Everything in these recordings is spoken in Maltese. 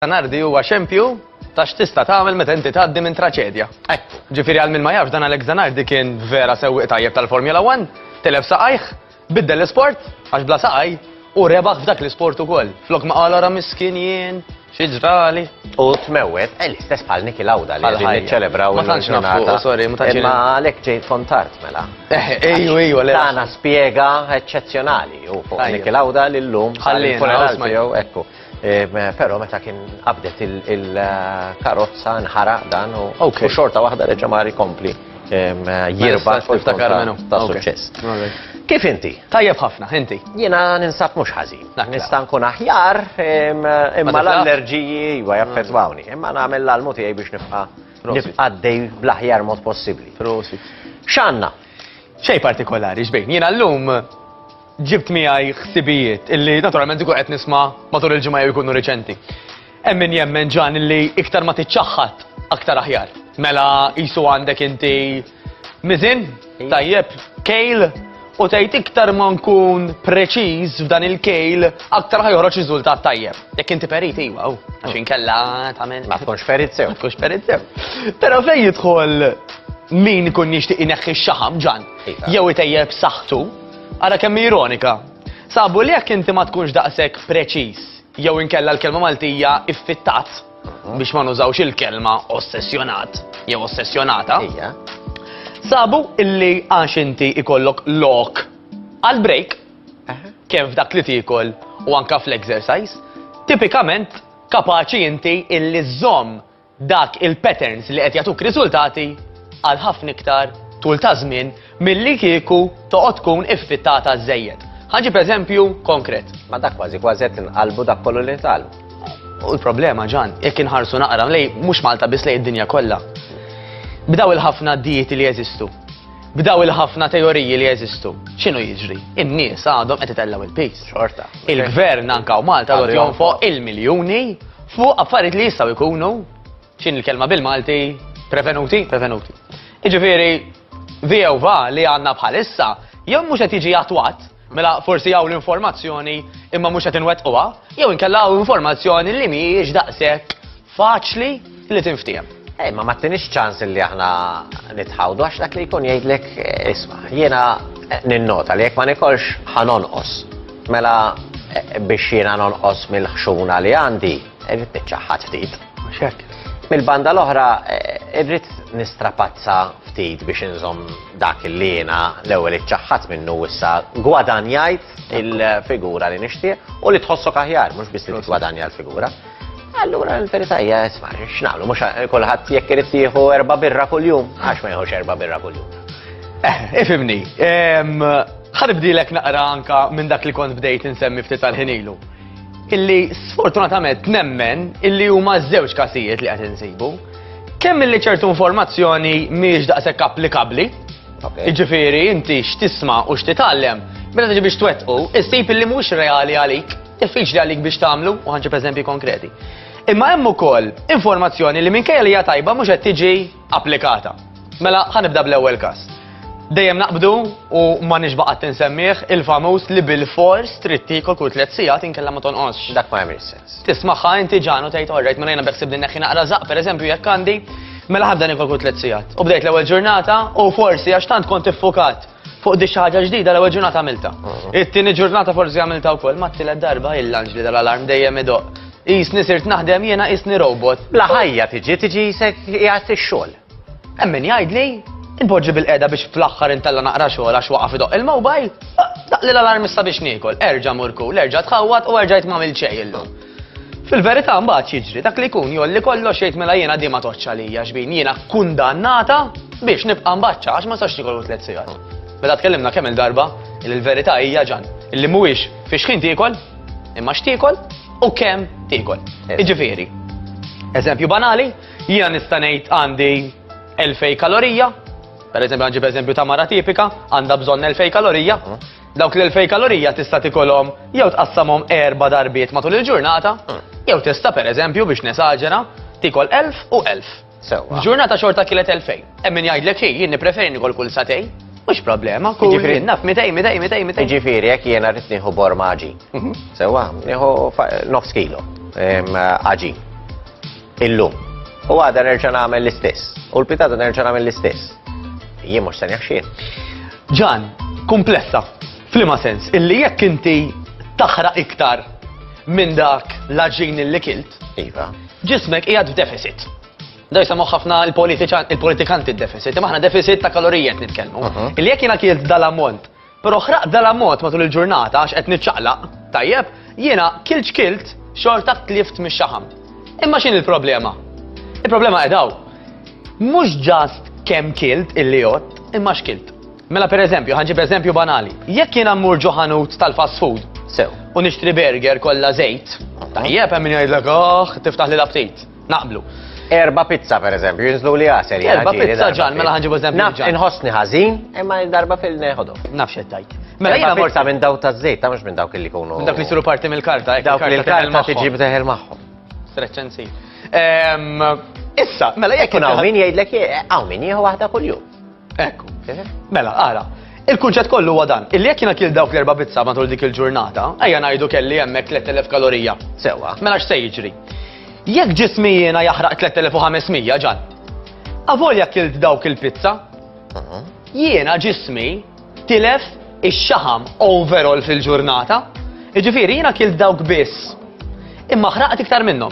Nardi huwa xempju ta' x'tista' tagħmel meta inti tgħaddi minn traċedja. Ġifieri għal min ma jafx dan Alex Zanardi kien vera sewwieq tajjeb tal-Formula 1, telef saqajh, Biddel l-isport, għax bla saqaj, u rebaħ f'dak l-isport ukoll. Flok ma qal ara miskin jien, xi ġrali. U tmewwet, eh, l-istess bħal Niki Lawda li qegħdin niċċelebraw Ma tantx naftu, sorry, ma tantx. Imma għalhekk ġejt kontart mela. Eh, ejju, ejju, le. Tana spjega eċċezzjonali u fuq Niki Lawda li llum ħalli funeral tiegħu ekku. Pero meta kien qabdet il-karozza nħaraq dan u xorta waħda reġa' mar ikompli jirba fil-ftakar minnu ta' suċċess. Kif inti? Tajjeb ħafna, inti. Jiena ninsab mhux ħażin. Nista' nkun aħjar imma l-allerġiji iva jaffettwawni, imma nagħmel l-almu tiegħi biex nibqa' nibqa' dej bl-aħjar mod possibbli. X'għandna? Xej partikolari, xbejn. Jiena llum Ġibt miegħi ħsibijiet illi naturalment ikun qed nisma' matul il-ġimgħa jew ikunu riċenti. Hemm min jemmen ġan illi iktar ma tiċċaħħad aktar aħjar. Mela qisu għandek inti miżin, tajjeb, kejl, u tgħid iktar ma nkun preċiż f'dan il-kejl aktar ħaj joħroġ riżultat tajjeb. Jekk inti perit iwa, u għax inkella tagħmel. Ma tkunx perit sew. Tkunx perit sew. Però fejn jidħol min ikun jixtieq ineħħi x-xaħam ġan, jew itejjeb saħħtu, Ara kemm hi ironika! Sabu li jekk inti ma tkunx daqshekk preċiż jew inkella l-kelma Maltija iffittat, biex ma nużawx il-kelma ossessjonat jew ossessjonata, sabu illi għax inti ikollok lok għal break, kemm f'dak li tiekol u anke fl-exercise, tipikament kapaċi inti illi żżomm dak il-patterns li qed jagħtuk riżultati għal ħafna iktar tul ta' żmien milli kieku toqgħod tkun iffittata żżejjed. Ħa ġib eżempju konkret. Ma dak kważi kważi qed inqalbu dak kollu li tal. U l-problema ġan, jekk inħarsu naqra lej mhux Malta biss lej id-dinja kollha. B'daw il-ħafna dieti li jeżistu, b'daw il-ħafna teoriji li jeżistu. X'inhu jiġri? In-nies għadhom qed itellgħu il-pis. Xorta. Il-gvern anka u Malta għadhom fuq il-miljuni Fuq affarijiet li jistgħu jkunu, x'in il-kelma bil-Malti, prevenuti, prevenuti. Iġifieri, VOVA li għandna bħalissa, jew mhux qed jiġi attwat, mela forsi hawn l-informazzjoni imma mhux qed inwettquha, jew inkella hawn informazzjoni li mhijiex daqshekk faċli li tinftiehem. Ej, ma mattinix ċans li aħna nitħawdu, għax dak li jkun jgħidlek, isma, jiena ninnota li jekk ma nikolx ħanonqos. Mela eh, biex jiena nonqos mill-ħxuna li għandi, irrid niċċaħħad ftit. Xek. Mill-banda l-oħra, eh, irrid nistrapazza ftit biex inżom dak li jiena l-ewwel iċċaħħad minnu issa gwadanjajt il-figura li nixtieq u li tħossok aħjar, mhux biss li tgwadanja l-figura. Allura l-verità hija isma' x'nagħmlu mhux kulħadd jekk irid jieħu erba' birra kuljum għax ma jieħux erba' birra kuljum. Eh, ifimni, ħanibdilek naqra anka minn dak li kont bdejt insemmi ftit tal-ħinilu. Illi sfortunatament nemmen illi huma żewġ kasijiet li qed insibu. Kemm illi ċertu informazzjoni mhijiex daqshekk applikabbli, jiġifieri inti x'tisma' u x'titgħallem, meta tiġi biex twettqu, issib illi mhux reali għalik. Diffiċli għalik biex tagħmlu u ħanġib eżempji konkreti. Imma hemm ukoll informazzjoni li minkejja li hija tajba mhux qed tiġi applikata. Mela ħanibda bl-ewwel każ. Dejjem naqbdu u ma nixbaqgħet tinsemmih il-famuż li bil-fors trid tiekol kull tliet sigħat inkella ma tonqosx. Dak ma jagħmel sens. Tismaħħa inti ġanu tgħid orrejt minn jiena beħsib din neħħi naqra żaq pereżempju jekk għandi mela ħabda nikol kull tliet sigħat. U bdejt l-ewwel ġurnata u forsi għax tant kont iffukat Fuq di xaħġa ġdida l-ewwel ġurnata għamilta. It-tieni ġurnata forsi għamilta wkoll ma t-tielet darba il-lanġ li dal-alarm dejjem idoq. Isni sirt naħdem jiena isni robot. Bla ħajja tiġi tiġi jisek jgħat ix-xogħol. Emmin jgħidli, inpoġġi bil-qeda biex fl-aħħar intella naqra xogħol għax waqaf idoq il-mobile, daqli l-alarm issa biex niekol, erġa' murku, l-erġa' tħawwat u erġa' jitmamil ċej illum. Fil-verità mbagħad jiġri dak li jkun jolli kollox jgħid mela jiena di ma toċċ għalija xbin jiena kundannata biex nibqa' mbaċċa għax ma sax nikolu tliet sigħat. Meta tkellimna kemm il-darba li l-verità hija ġan illi mhuwiex fi xħin tiekol imma x'tiekol u kemm tiekol. Eh. Iġifieri, eżempju banali, jiena nista' ngħid għandi 2000 kalorija, per eżempju għanġib eżempju ta' mara tipika, għandha bżonn 2000 kalorija, Dawk l-2000 kalorija tista' tikolhom jew tqassamhom erba' darbiet matul il-ġurnata, hmm. jew tista' pereżempju biex nesaġera tikol 1000 u 1000. Sewwa. Ġurnata xorta kielet 2000. Hemm min jgħidlek hi jien nippreferi nikol kull satej. Mhux problema, kull jien naf 200, 200, 200, 200. Jiġifieri jekk jiena rrid nieħu bormaġi. Mhm. Sewwa, nieħu nofs kilo. Aġi. Illum. U għada nerġa' nagħmel l-istess. U l-pitata nerġa' nagħmel l-istess. Jien mhux se jaħxien. Ġan, komplessa. Flima sens, illi jekk inti taħra iktar minn dak l-ġin li kilt. Iva. Ġismek qiegħed f'deficit. Da jisamu ħafna il-politikanti il-deficit, imma ħna deficit ta' kalorijiet nitkellmu. Illi jekk jiena kilt dal-ammont Però ħraqt dal-ammont matul il-ġurnata għax qed niċċaqlaq, tajjeb, jiena kilt x'kilt xorta tlift mix-xaħam. Imma x'in il-problema? Il-problema qedaw. Mhux ġast kemm kilt illi jott, imma x'kilt. Mela per eżempju, ħanġib eżempju banali. Jekk jiena mmur ġo ħanut tal-fast food, sew, u nixtri burger kollha żejt, tajjeb hemm min jgħidlek, oh, tiftaħ li l-aptit. Naqblu. Erba pizza per eżempju, jinżlu li għasel. Erba pizza ġan, mela ħanġibu eżempju. Naf, inħossni ħażin, imma darba fil-neħodu. Naf xettajt. Mela jina morta minn daw ta' zejt, ta' mux minn dawk li kunu. Minn dawk li suru parti mill-karta, eh, dawk li l-karta tiġi b'teħel maħħom. Streċenzi. Ehm, issa, mela jek. Kun għaw min jgħidlek, għaw min jieħu waħda kull-jum. Ekku. Eh? Mela, ara, Il-kunċett kollu huwa dan, illi jekk jiena kil dawk l-erba' pizza matul dik il-ġurnata, ejja ngħidu kelli hemmhekk 3000 kalorija. Sewwa, mela x'se jiġri? Jekk ġismi jiena jaħraq 3500 ġan. Avolja kilt dawk il-pizza, mhm. jiena ġismi tilef ix-xaħam overall fil-ġurnata, jiġifieri jiena kilt dawk biss. Imma ħraqt iktar minnhom.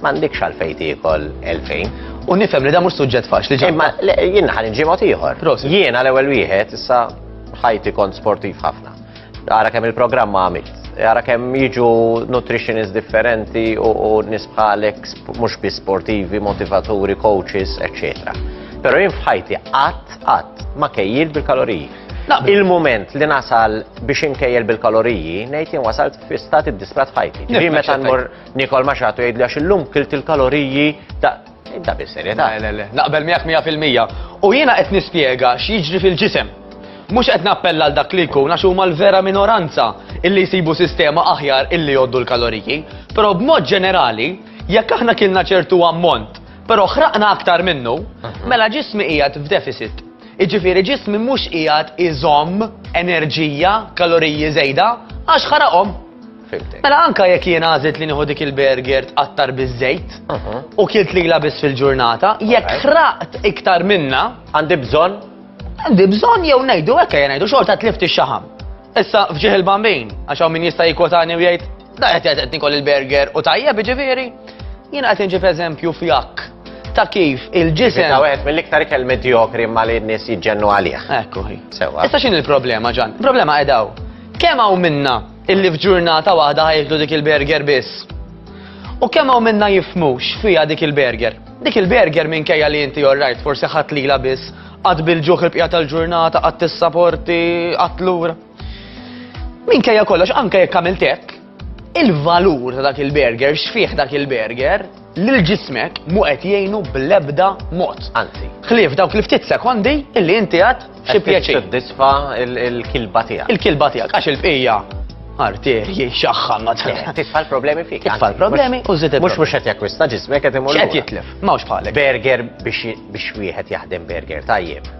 M'għandekx għalfejn tiekol 2000. U nifhem li da mhux suġġett faċli ġej. Imma jien ħan inġi mod ieħor. Jien għal ewwel wieħed issa ħajti kont sportiv ħafna. Ara kemm il-programm għamilt. Ara kemm jiġu nutritionist differenti u nisbħalek mhux bi sportivi, motivaturi, coaches, eccetera. Pero jien fħajti qatt qatt ma kejjil bil-kaloriji. Il-moment li nasal biex inkejjel bil-kaloriji, nejt jien wasalt fi stati disprat ħajti. Ġi meta nmur Nikol ma xatu jgħidli għax illum kilt il-kaloriji ta' Inta bis serjetà. Le, le, le, naqbel miegħek 100%. U jiena qed nispjega x'jiġri fil-ġisem. Mhux qed nappella għal dak li jkun għax huma l-vera minoranza illi jsibu sistema aħjar illi jgħoddu l-kaloriji, però b'mod ġenerali, jekk aħna kilna ċertu ammont, però ħraqna aktar minnu, mhm. mela ġismi qiegħed f'deficit. Iġifieri ġismi mhux qiegħed iżomm enerġija, kaloriji żejda, għax ħaraqhom. Fimtek. Mela anka jekk jien għażilt li nieħu dik il-burger tqattar biż-żejt uh-huh. u kilt li biss fil-ġurnata, jekk ħraqt iktar minna. Għandi bżonn? Għandi bżonn jew ngħidu hekk jgħidu ngħidu xorta tlift ix-xaħam. Issa fġieħ il-bambin, għax hawn min jista' jikwotani u jgħid, da qed qed nikol il-burger u tajjeb ġifieri. Jien qed inġib eżempju fjak ta' kif il-ġisem. Ta' wieħed mill-iktar ikel medjokri ma li n-nies jiġġennu għalih. Ekku. Sewa. Issa x'in il-problema ġan? Il-problema qedaw Kemm hawn minna illi f'ġurnata waħda ħajħdu dik il-burger biss? U kemm hawn minna jifmux fija dik il-burger? Dik il-burger minkejja li inti orrajt forsi ħadd lila biss, qatt bil-ġuħ il-bqija tal-ġurnata, qatt tissaporti, qatt lura. Minkejja kollox anke jekk għamilt hekk, Il-valur ta' dak il-burger, x'fih dak il-burger, lil ġismek mu qed jgħinu bl-ebda mod. Anzi. Ħlief dawk li ftit sekondi illi inti għad xi pjaċir. Tisfa il-kilba tiegħek. Il-kilba tiegħek għax il-bqija arterji xaħħan ma Titfa' l-problemi fik. Titfa' l-problemi u żidet. Mhux mhux qed jakkwista ġismek qed imur. Qed jitlef, m'hawnx bħalek. Burger biex wieħed jaħdem burger tajjeb.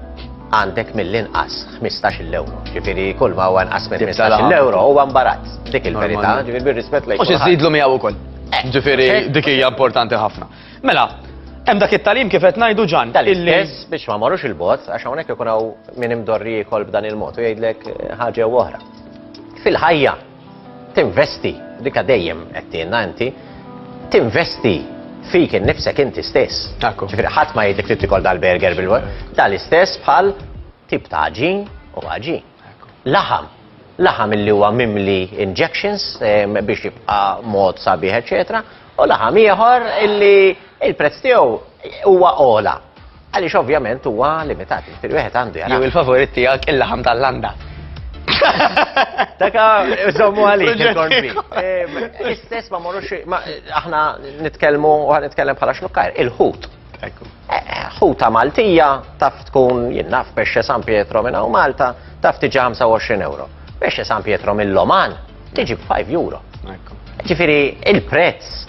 għandek mill-inqas 15 euro. Ġifiri, kull ma huwa nqas minn 15 euro huwa mbarazz. Dik il-verità, ġifiri bir-rispett lejk. Mhux iżidlu miegħu wkoll. Eh, ġifiri, eh. dik hija importanti ħafna. Mela, Hemm dak it-talim kif qed ngħidu ġan. Tal-istess biex ma marrux il-bot għax hawnhekk ikun hawn min imdorri jkoll b'dan il-mod u jgħidlek eh, ħaġa oħra. Fil-ħajja Tinvesti, dikha dejjem għedtielna inti, tinvesti fik innifsek inti stess. Ekku. Ġifieri ħadd ma jgħidlek trid tikol dal-burger bil tal-istess bħal tip ta' ġin u ħaġin. Laħam, laħam illi huwa mimli injections ehm, biex jibqa' mod sabiħ, eċetera, u laħam ieħor illi il-prezz tiegħu huwa ola. Għaliex ovvjament huwa limitat, jiġifieri wieħed għandu jara. Jew il-favorit tiegħek il-laħam tal-landa. Taka, żommu għalik il-korbi. Istess ma morux, aħna nitkellmu, u nitkellem bħala xnukkar, il-ħut. ħuta Maltija taf tkun jinnaf pesce San Pietro minna u Malta taf tiġi 25 euro. Pesce San Pietro mill-Loman tiġi b'5 euro. Ġifiri, il-prezz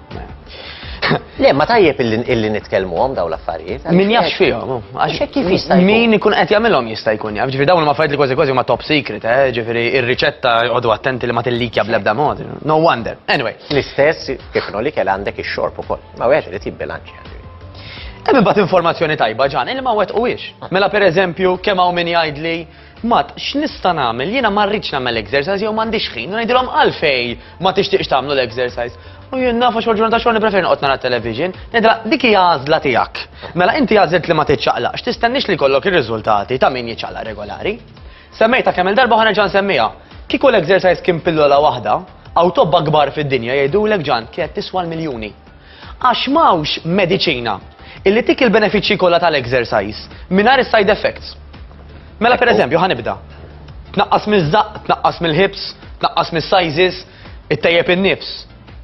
Le, ma tajjeb illi nitkellmuhom daw l-affarijiet. Min jafx fihom. Għax kif jista' Min ikun qed jagħmilhom jista' jkun jaf. Ġifieri dawn ma fajt li kważi kważi huma top secret, eh? ġifieri ir-riċetta għodu attenti li ma tillikja bl-ebda mod. No wonder. Anyway. L-istess kif li kell għandek ix-xorb ukoll. Ma wieħed irid jibbilanċja. Hemm imbagħad informazzjoni tajba ġan, illi ma wet u Mela pereżempju kemm hawn min jgħidli Mat, x'nista' nagħmel? Jiena ma rridx nagħmel exercise jew m'għandix ħin. U ngħidilhom għalfej ma tixtieqx tagħmlu l-exercise. U jien naf għax ġurnata xogħol nippreferi noqgħod nara television. Ngħidilha dik hija għażla tiegħek. Mela inti għażilt li ma tiċċaqlaqx, tistenniex li jkollok ir-riżultati ta' min jiċċaqlaq regolari. Semmejtha kemm il-darba u ħanerġa' nsemmiha. Kieku l-exercise kien pillola waħda, hawn tobba kbar fid-dinja jgħidulek Ġan, kienet tiswa l-miljuni. Għax m'hawnx mediċina illi tik il-benefiċċji kollha tal-exercise mingħajr is-side effects. Mela pereżempju ħa nibda. Tnaqqas miż-żaqq, tnaqqas mill-ħibs, tnaqqas mis-sizes, ittejjeb in-nifs.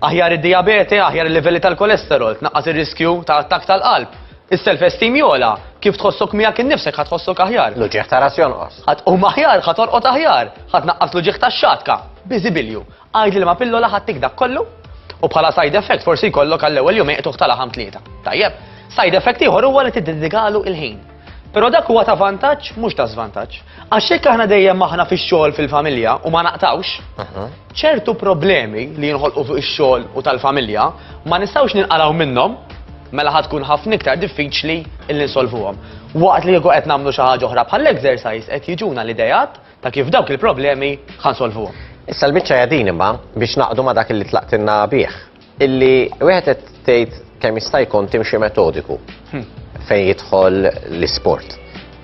Aħjar id-dijabete, aħjar il-livelli tal-kolesterol, tnaqqas ir-riskju ta' attak tal-qalb. Is-self-esteem jola, kif tħossok miegħek innifsek ħad tħossok aħjar. L-uġieħ ta' ras jonqos. Ħadd u maħjar, ħadd orqod aħjar, ħadd naqqas l-uġieħ tax-xatka. Biżibilju. Għidli li ma' pillola ħadtik dak kollu? U bħala side effect forsi jkollok għall-ewwel jum iqtuħ ta' laħam tlieta. Tajjeb, side effect ieħor huwa li tiddedikalu il-ħin. Però dak huwa ta' vantaġġ mhux ta' żvantaġġ. Għax jekk aħna dejjem aħna fix-xogħol fil-familja u ma naqtawx, ċertu problemi li jinħolqu fuq ix-xogħol u tal-familja ma nistgħux ninqalgħu minnhom mela ħad tkun ħafna iktar diffiċli illi nsolvuhom. Waqt li jieku qed nagħmlu xi ħaġa oħra bħall-exercise qed jiġuna l-idejat Ta' kif dawk il-problemi ħa nsolvuhom. Issa l-biċċa hija din imma biex naqdu ma' dak li tlaqtilna bih. Illi wieħed qed tgħid kemm jista' jkun timxi metodiku hmm. fejn jidħol l-isport.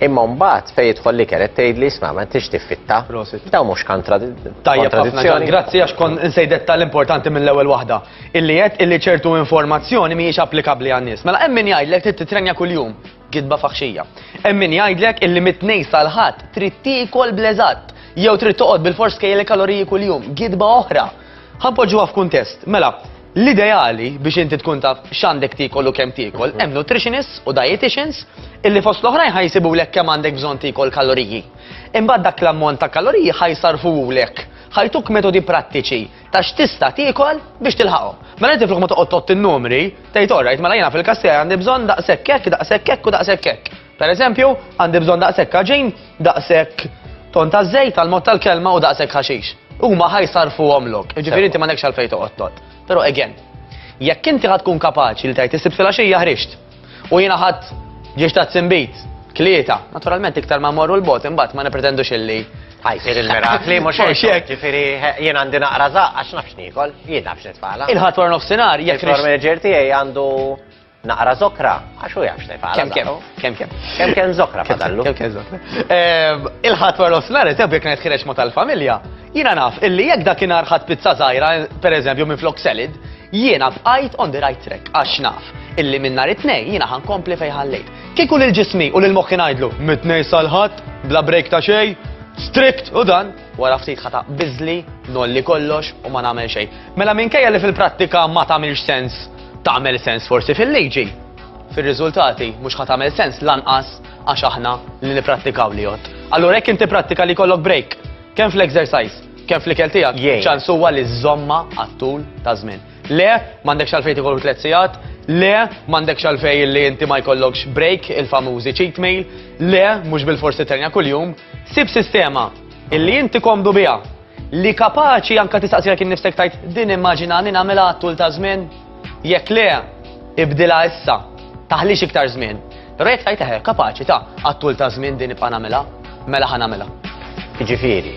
Imma mbagħad fejn jidħol li kienet tgħid li isma' ma tix tiffitta. Daw mhux kontradizzjoni. Grazzi għax kon insejdet tal-importanti mill-ewwel waħda. Illi qed illi ċertu informazzjoni mhijiex applikabbli għan-nies. Mela hemm min jgħidlek trid titrenja kuljum. Gidba faħxija. Hemm min jgħidlek illi mit-tnejn sal-ħadd trid tiekol bleżatt jew trid toqgħod bil-fors kejjel kaloriji kuljum. Gidba oħra. Ħanpoġġuha f'kuntest. Mela, l-ideali biex inti tkun taf x'għandek tiekol u kemm tiekol, hemm nutritionists u dietitians illi fost l-oħrajn ħajsibulek kemm għandek bżonn tiekol kaloriji. Imbagħad dak l-ammont ta' kaloriji ħajsarfulek. Ħajtuk metodi prattiċi ta' x'tista' tiekol biex tilħaqhom. Mela inti flok ma toqgħod tott in-numri, tgħid orrajt mela jiena fil-kassija għandi bżonn daqshekk hekk, daqshekk hekk u daqshekk hekk. Pereżempju, għandi bżonn daqshekk ħaġin, daqshekk ton ta' żejt għal mod tal-kelma u daqshekk ħaxix. Huma ħajsarfuhom lok, jiġifieri inti ma nekx għalfejn toqgħod tott. Però again, jekk inti ħad tkun kapaċi li tgħid is-sibt filgħaxija ħriġt. U jiena ħadd ġiex ta' tsimbit, klieta, naturalment iktar ma morru l-bot imbagħad ma nipretendux illi ħajsir il-mirakli, mhux hekk. Ġifieri jien għandi naqra zaq għax nafx niekol, jien nafx nitfala. Il-ħadd wara nofsinhar jekk. Il-floor manager tiegħi għandu naqra zokra, għax u jafx nifala. Kem kem, kem kem. Kem kem zokra fadallu. Kem kem zokra. Ehm, il-ħat wara l-osnar, eżempju, jek kienet ħirex ma tal-familja, jina naf, illi jek dakinar ħat pizza zaħira, per eżempju, minn flok selid, Jiena bqajt on the right track għax naf illi minn nhar it-tnejn jiena ħankompli fejn ħallejt. Kieku lil ġismi u lil moħħi ngħidlu mit-tnejn sal-ħadd bla break ta' xejn, strict u dan, wara ftit ħata biżli, nolli kollox u ma nagħmel xejn. Mela minkejja li fil-prattika ma tagħmilx sens tagħmel sens forsi fil-liġi. Fir-riżultati mhux ħa tagħmel sens lanqas għax aħna li nipprattikaw li jott. Allura jekk inti prattika li kollok break, kemm fl-exercise, Kemm fl-ikel tiegħek, Jgħin. ċans huwa li żżommha għat-tul ta' żmien. Le, m'għandekx għalfejn tikol tliet sigħat, le, m'għandekx għalfejn li inti ma jkollokx break, il-famużi cheat meal, le, mhux bil-forsi terja kuljum. Sib sistema illi inti komdu biha, li kapaċi anke tistaqsilek innifsek tajt din immaġina li nagħmilha għat-tul ta' żmien. Jekk le, ibdilha issa, taħlix iktar żmien. Rejt tajt eħe, kapaċi ta' għattul ta' żmien din ibqa' nagħmilha, mela ħa nagħmilha. Ġifieri,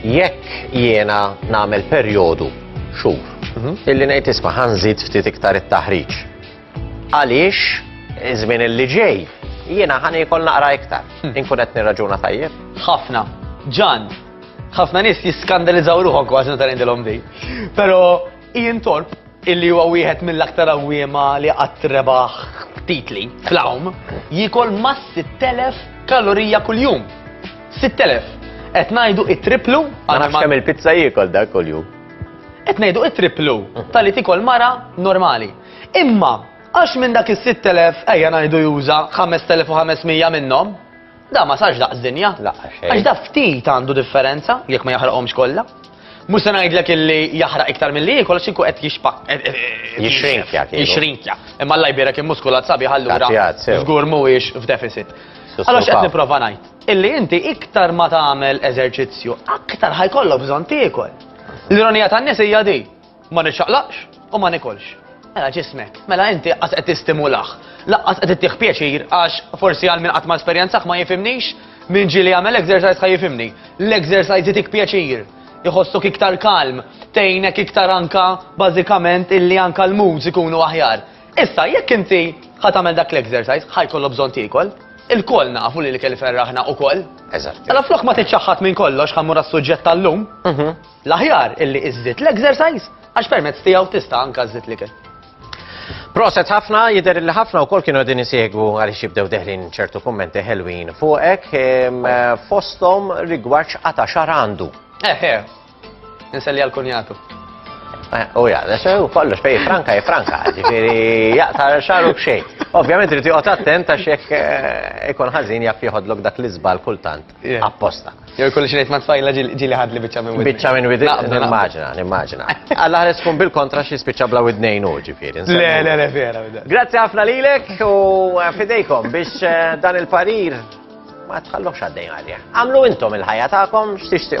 jekk jiena nagħmel perjodu xhur, mhm. illi ngħid isma' ħanżid ftit iktar it-taħriġ. Għaliex iż-żmien li ġej jiena ħani jkoll naqra iktar. Hmm. Inkun qed nirraġuna tajjeb. Ħafna. Ġan, ħafna nies jiskandalizzaw ruħhom kważi meta ngħidilhom di. Però Ian Thorpe, illi huwa wieħed mill-aktar għawwiema li qatt rebaħ titli fl-għawm, jiekol ma' 6,000 kalorija kuljum. 6,000. Qed ngħidu it-triplu. Ma nafx kemm il-pizza jiekol dak kuljum. Qed ngħidu it-triplu tal-li tikol mara normali. Imma għax minn dak is-6,000 ejja ngħidu juża 5,500 minnhom, Da ma sarx daqs dinja. Laqqa xejn. Għax da ftit għandu differenza jekk ma jaħraqhomx kollha. Mhux se ngħidlek illi jaħraq iktar milli jiekol għax inkun qed jixpa. Eh, eh, eh, Jixrinkja, kieku. Jixrinkja. Imma Allah jbierek immuskulat sabi ħallura. Tagħtijat, sew. Żgur mhuwiex f'deficit. Sussu Allora x'qed pap. nipprova ngħid? Illi inti iktar ma tagħmel eżerċizzju, aktar ħajkollok bżonn tiekol. L-ironija tan-nies hija di. Ma niċċaqlaqx u ma nikolx. Mela ġismek, mela inti qas qed tistimulah. Laqqas qed ittih pjaċir għax forsi għal min qatt ma esperjenzah ma jifimnix min ġieli jagħmel exercise ħa jifimni. L-exercise itik pjaċir, iħossok iktar kalm, tgħinek iktar anka bażikament illi anka l-moods ikunu aħjar. Issa jekk inti ħa tagħmel dak l-exercise ħa jkollu bżonn tiekol, il-koll nafu li l-ikel ferraħna u koll. Eżatt. Mela flok ma tiċċaħħat minn kollox ħammur għas-suġġett tal-lum. Mhm. L-aħjar illi iżżid l-exercise għax permezz tiegħu tista' anka żżid l-ikel. Proset ħafna, jider li ħafna u kol kienu għedin jisiegwu għalix jibdew deħlin ċertu kommenti ħelwin fuqek fostom rigward xqata xar għandu. Eħe, eh, eh, nselli għal-kunjatu. Eh, u ja, l-sew kollox fej franka, je franka, ġifiri jaqta xaru bxej. Ovvijament rriti għot attent għax jek ikon ħazin jaf jħodlok dak l-izbal kultant. apposta. Jew kulli xinejt ma tfajla ġili ħadli bieċa minn widni. Bieċa minn widni, nimmaġina, nimmaġina. Alla ħares kun bil-kontra xie spiċa bla widnejn u ġifiri. Le, le, le, vera. Grazie ħafna lilek u eh, fidejkom biex eh, dan il-parir ma tħallux għaddejn għalja. Għamlu intom il-ħajja ta'kom x'tixtiqu.